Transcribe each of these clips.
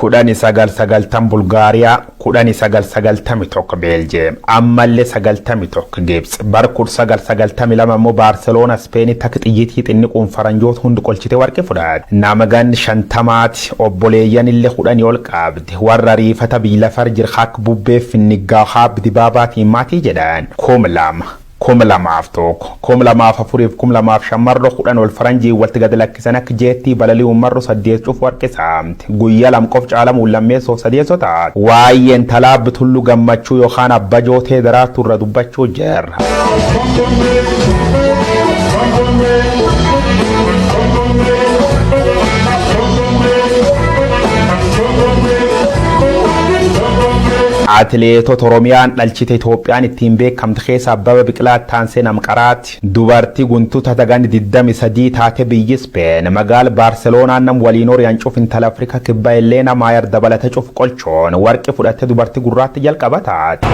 kudhani sagal sagaltam bulgaariyaa kudhani sagal sagaltami tokko beeljeem ammallee sagaltami tokko gibts bar kudha sagal sagaltami lama immoo baarseloona ispeeni takka xiyyitii xinniquun faranjoota hundi qolchite warqi fudhaate nama ganni shantamaati obboleeyyan illee kudhani ol qaabde warra riifata biyyi lafar jira akka bubbee finniggaa haabbi dibaabaatiin maatii jedhaan kum lama 2001, 2004 fi 2005 marro 10 ol faranjiin walti gad lakkisan akka jeettii balali'uun marro 8 cufu harkisa. Guyya lam qof caalamuun lammeessoof sadeesso ta'a. Waayee intalaa Abb Tullu Gammachuu yookaan Abba Jootee Daraartuu irra dubbachuu jirra. Atileetota Oromiyaan dhalchite Itoophiyaan ittiin beekamtu. kamta keessa Abbaba Biqilaa itti aansee nam qaraati. Dubarti guntu tata ganni diddami sadii taate biyyi Spain magaal Barcelona nam waliin ori'an cuf intal Africa kibba Elena Mayer dabalate cuf qolchoon warqi fudhatte dubarti gurraatti jalqaba taate.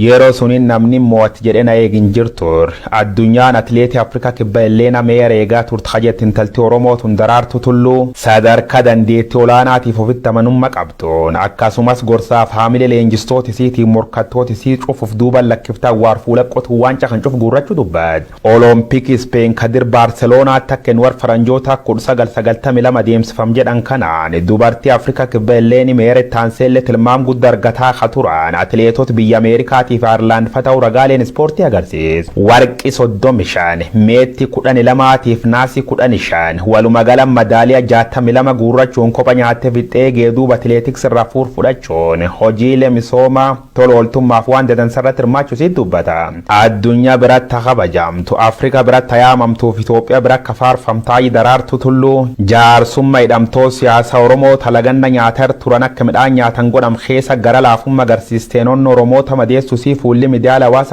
Yero suni namni mo'atti jedhe na eeg hin jirtu. Addunyaan Atileetii Afrikaa Kibbaa Elleena Meyer eegaa turte ka jette intalti Oromoo tun Daraartuu Tulluu, sadarkaa dandeettii olaanaatiif ofitti amanumma qabduun, akkasumas gorsaaf haamilee leenjistoota isiitiin morkattoota isii cuf uf duuban lakkifte awwaar fuula qotuun waancaa kan cuf guurrachu dubbatti. Olompikii Ispeen ka dir Baarseloonaatti akka Enwar Faranjootaa 1992 adeemsifam jedhan kanaan, dubartii Afrikaa Kibbaa Elleeni Meyer itti aanseellee tilmaam gudda argataa ka turan atileetota biyya Ameerikaatiif Ayerlaand fa ta'uu ragaaleen ispoortii agarsiisa. warqi 35, meetti 12 tiif naasi 15, walumagala madaaliya 62 guurrachuun kopha nyaatte fixxee geeduuba atileetiks irraa fuur fudhachuun hojiile misooma tola ooltummaaf waan dadansa irratti hirmaachu isiit dubbata. Addunya biratti ha kabajaamtu, Afrika biratti ha yaamamtuuf Itoophiya bira akka faarfamtu Haaji Daraartu Tulluu jaarsumma hidhamtoot siyaasa Oromoo ta laganna nyaata irr turan akka midhaan nyaatan godham keessa gara laafumma garsiisteen onna Oromoota madeessu isii fuulli midiyaale hawaasa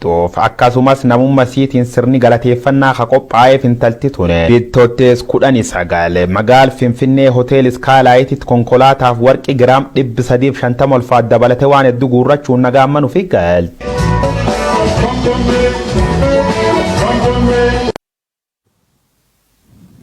tuuf, akkasumas namumma isiitiin sirni galateeffannaa ka qophaa'eef intalti tun Bittottees 19 magaal Finfinnee Hotel Skylight-tti konkolaataaf warqii giraam 350 ulfaat dabalate waan heddu guurrachuun nagaan man ufii galte.